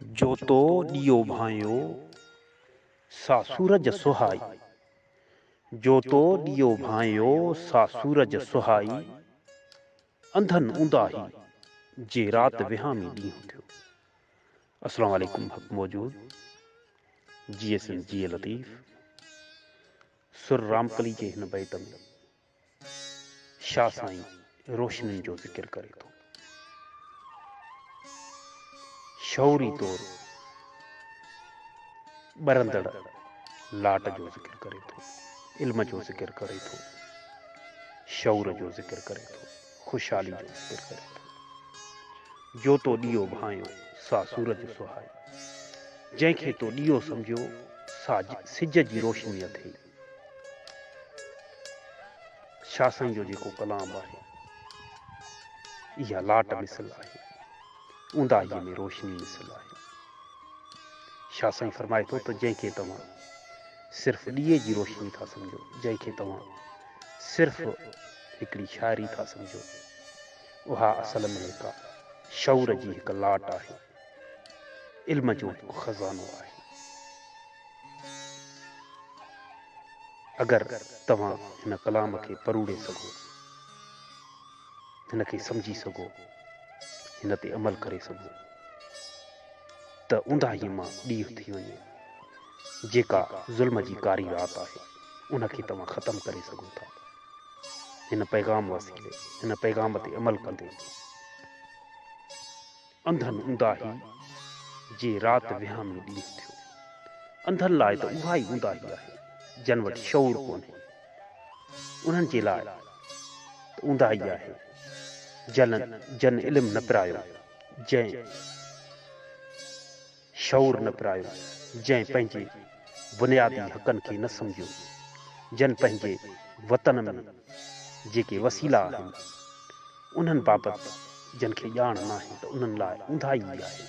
جوتو ڏيئو ڀانئيو سا سورج سهائي. جوتو ڏيئو ڀانئيو سا سورج سهائي. انڌن اونداهي جي رات وهامي ڏينهن ٿيو. السلام عليڪم حق موجود جيئي سنڌ جيئي لطيف سر رامڪلي جي هن بيت ۾ شاھ سائين روشنين جو ذڪر ڪري ٿو. شعوري طور ٻرندڙ لاٽ جو ذڪر ڪري ٿو. علم جو ذڪر ڪري ٿو. شعور جو ذڪر ڪري ٿو. خوشحالي جو ذڪر ڪري ٿو. جو تو ڏيو ڀانيو سا سورج سهائي. جنهن کي تو ڏيو سمجهيو سا سج جي روشني اٿئي. شاھ سائين جو جيڪو ڪلام آھي اھا لاٽ مثل آھي اونداھيء ۾ روشني مثل آھي شاھ سائين فرمائي ٿو ته جنهن کي توهان صرف ڏيئي جي روشني ٿا سمجھو جنهن کي توهان صرف هڪڙي شاعري ٿا سمجھو اها اصل ۾ هڪ شعور جي هڪ لاٽ آهي علم جو هڪ خزانو آهي اگر توهان هن ڪلام کي پروڙي سگهو هن کي سمجهي سگهو هن تي عمل ڪري سگهو ته اونداهي مان ڏينهن ٿي وڃي جيڪا ظلم جي ڪاري رات آهي ان کي توهان ختم ڪري سگهو ٿا هن پيغام وسيلي هن پيغام تي عمل ڪندي انڌن اونداهي جي رات وهام ۾ ڏينهن ٿيو. انڌن لاء ته اها ئي اونداهي آهي جن وٽ شعور ڪونهي. انهن جي لاء ته اونداهي آهي جن جن علم نه پرايو، جنهن. شعور نه پرايو، جنهن پنهنجي بنيادي حقن کي نه سمجهيو، جن پنهنجي وطن ۾ جيڪي وسيلا آهن، انهن بابت جن کي ڄاڻ ناهي ته انهن لاء اونداهي ئي آهي،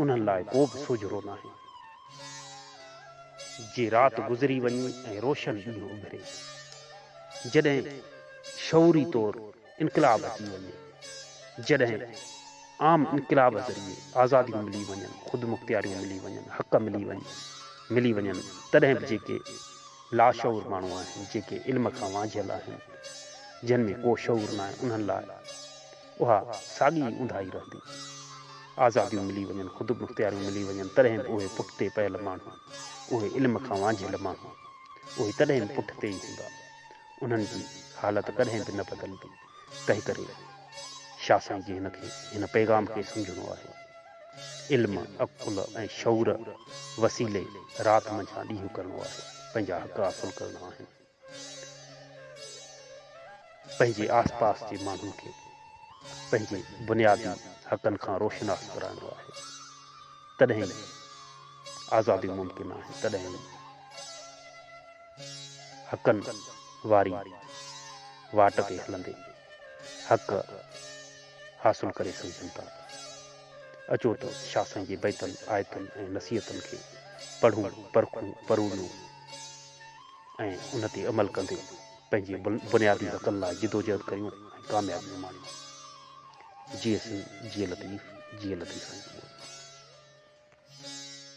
انهن لاء ڪو به سوجهرو ناهي. جي رات گذري وڃي ۽ روشن ڏينهن اڀري، جڏهن شعوري طور انقلاب اچي وڃي جڏهن عام انقلاب ذريعي آزاديون ملي وڃن خودمختياريون ملي وڃن حق ملي وڃن ملي وڃن تڏهن به جيڪي لاشعور ماڻهو آهن جيڪي علم کان وانجهيل آهن جن ۾ ڪو شعور نه آهي انهن لاء اها ساڳي ئي اونداهي رهندي آزاديون ملي وڃن خودمختياريون ملي وڃن تڏهن به اهي پٺتي پيل ماڻهو اهي علم کان وانجهيل ماڻهو اهي تڏهن به پٺتي ئي هوندا انهن جي حالت ڪڏهن به نه بدلندي، تنهن ڪري شاهه سائين جي هن کي هن پيغام کي سمجهڻو آهي. علم، عقل ۽ شعور وسيلي رات منجهان ڏينهن ڪرڻو آهي، پنهنجا حق حاصل ڪرڻا آهن، پنهنجي آس پاس جي ماڻهن کي پنهنجي بنيادي حقن کان روشناس ڪرائڻو آهي، تڏهن ئي آزادي ممڪن آهي، تڏهن ئي. حقن واري واٽ تي هلندي حق حاصل ڪري سگهجن ٿا. اچو ته شاهه سائين جي بيتن، آيتن ۽ نصيحتن کي پڙهون، پرکون، پرويون ۽ ان تي عمل ڪندي پنهنجي بنيادي حقن لاء جدوجهد ڪريون ۽ ڪاميابيون ماڻيون. جيئي سنڌ، جيئي لطيف، جيئي لطيف سائين.